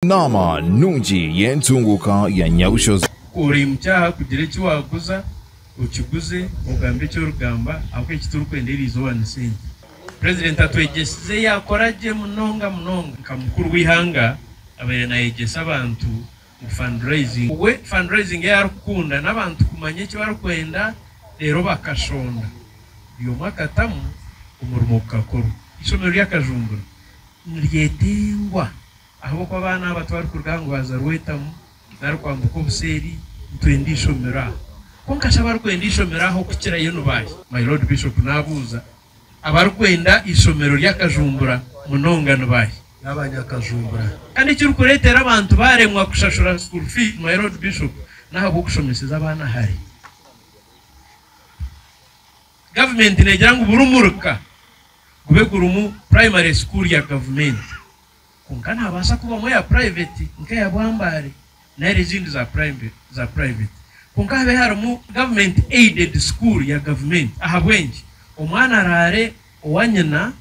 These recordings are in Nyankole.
Naama nungi y'entunguuka ya Nyabushozi. Ori mukyaaha kugira eki waguza okiguze ogambe eki origamba ahabw'okuba eki turikwenda eri izooba ni sente. President atwegyesize yaakora gye munonga munonga. Nka mukuru w'eihanga abaire naayegyesa abantu ngu fundraising we fundraising ei arikukunda n'abantu kumanya eki barikwenda reero bakashonda buri omwe akatamu omurimo gukakorwa. Eishomero rya Kajumbura niryetengwa. Ahabw'okuba abaana aba tibarikuruga aha ngwaza rwetamu nari kwambuka obuseeri, nitwenda eishomero aha. Kwonka shi abarikwenda eishomero aha okukirayo ni baahi? My Lord Bishop, naabuuza, abarikwenda eishomero ry'akajumbura munonga ni baahi? N'aba Nyakajumbura. Kandi ekirikureetera abantu baaremwa kushashura school fees, My Lord Bishop, n'ahabw'okushomeseza abaana hare. Gavumenti neegira ngu buri muruka gube gurimu primary school ya gavumenti. Kwonka naabaasa kubamu eya purayiveti nk'eya Bwambaare nari ezindi za purayiveti kwonka habe harimu gavumenti aided school ya gavumenti ahabw'enki omwana araare owa nyina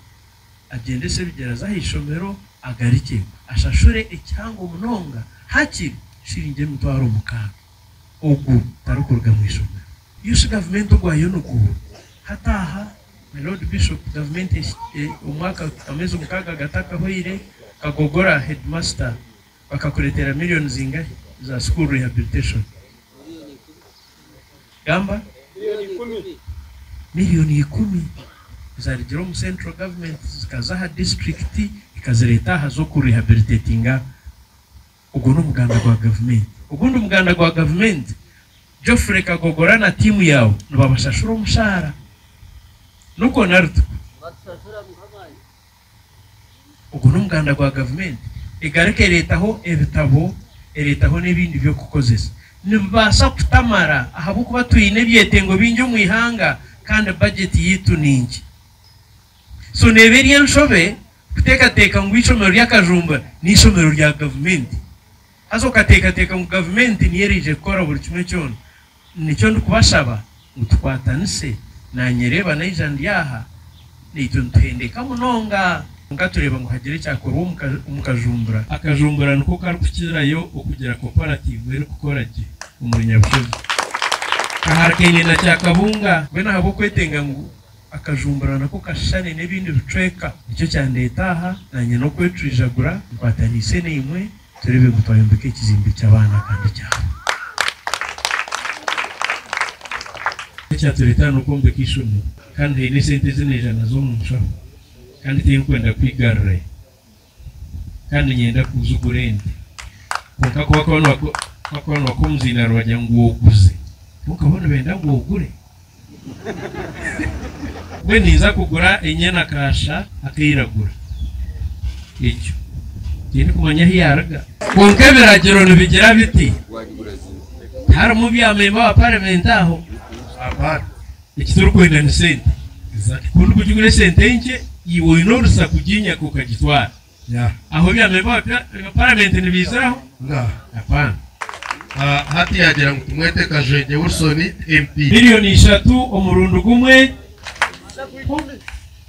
agyendese ebigyere aze ah'eishomero agarikye ashashure ekihango munonga hakiri shiringi emitwaro mukaaga ogu tarikuruga mw'eishomero? Iyo shi gavumenti ogwayo niguhwa hati aha My Lord Bishop, Gavumenti omwaka amezi mukaaga gatakahoire kagogora headmaster bakakureteera million zingahe za school rehabilitation? Gamba. Million ikumi zarigire omu central government zikaza aha district ikazireeta aha z'oku rehabilitatinga. Ogwo n'omuganda gwa gavumenti. Ogundi muganda gwa gavumenti, Geoffrey Kagogora na tiimu yaawe nibabashashura omushaara? Nukwo nari tikwo? Nibatushashura Mukamaani. Ogwo n'omuganda gwa gavumenti. Egaruka ereetaho ebitabo, ereetaho n'ebindi by'okukozesa. Nibibaasa kutamara ahabw'okuba twine ebyetengo bingi omu ihanga kandi bajeti yaitu ni nkye. So neeba eri enshobe. Kuteekateeka ngu eishomero ry'akajumba n'eishomero rya gavumenti. Haza okateekateeka ngu gavumenti niyo eraije kukora buri kimwe kyona. Nikyo ndikubashaba ngu tukwatanise. Naanyereeba naija ndi aha, naitwe nituhendeka munonga. Kwonka tureeba ngu hagire ekyakorwa omu Kajumbura. Akajumbura niko karikukirayo okugira koparatiivu erikukora gye omuri Nyabushaju. Kaharikaine na Kyakabunga. Mbwenu ahabw'okwetenga ngu Akajumbura nako kashushane n'ebindi bicweka. Nikyo kyandeeta aha, naanye n'okwetwijagura nkwataniise naimwe tureebe ngu twayombeka ekizimbe ky'abaana kandi kyahwa. Ekyatureeta aha n'okwombeka eishomero kandi haine esente ezi naija nazo omu nshaho kandi tinkwenda kwigarurayo. kandi nyenda ku oze ogure ente kwonka ku bakuba nibakwa omuzindaaro nibagira ngu oguze kwonka bo nibenda ngu ogure mbwenu ninza kugura enyana kaasha akairagura egyo tihaine kumanya ahu yaruga. Kwonka ebiragiro nibigira biti tiharimu byamemba wa paramenti aho. Eki turikwenda ni sente za kikuru kugira oine sente nkye iwe oine orusa kuginyaka okagitwara aho ebyamemba bya paramenti nibiiziraho? Hapana. Hati yagira ngu tumwete Kajwengye Wilson MP. Million ishatu omurundi gumwe.